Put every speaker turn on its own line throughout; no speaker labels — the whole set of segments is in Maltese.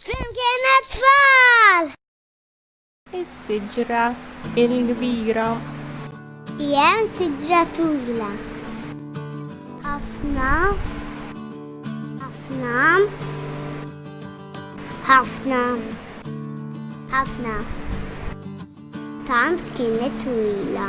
Flimkien it-tfal! Is-siġra il-kbira.
Hemm siġra twila. Ħafna. Ħafna. Ħafna. Ħafna. Tant kienet twila.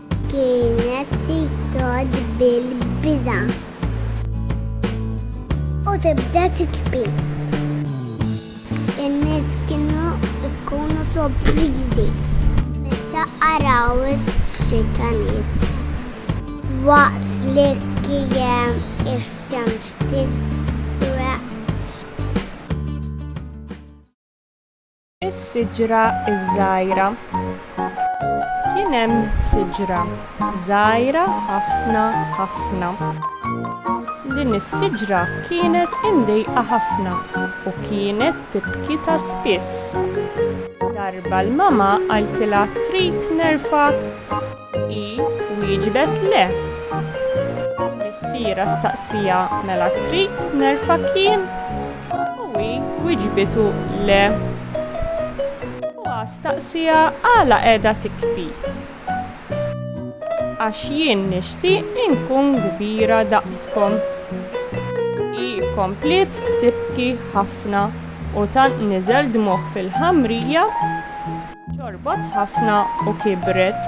Kienet titod bil-biża' u tibda tikbi. In-nies kienu jkunu sorpriżi meta araw xi ta' nies waqt li kien ix-xemx titreġġ.
Is-siġra ż-żgħira Kien hemm siġra żgħira ħafna ħafna. Din is-siġra kienet imdejqa ħafna u kienet tibki ta' spiss. Darba l-mama qaltilha trid nerfgħek? Hi wieġbet le. Missierha staqsiha mela trid nerfgħek jien? U hi wiġbitu le. Huwa staqsieha għala qiegħda tikbi. Għax jien nixtieq inkun kbira daqskom. Hi kompliet tibki ħafna u tant niżel dmugħ fil-ħamrija, ċorbot ħafna u kibret.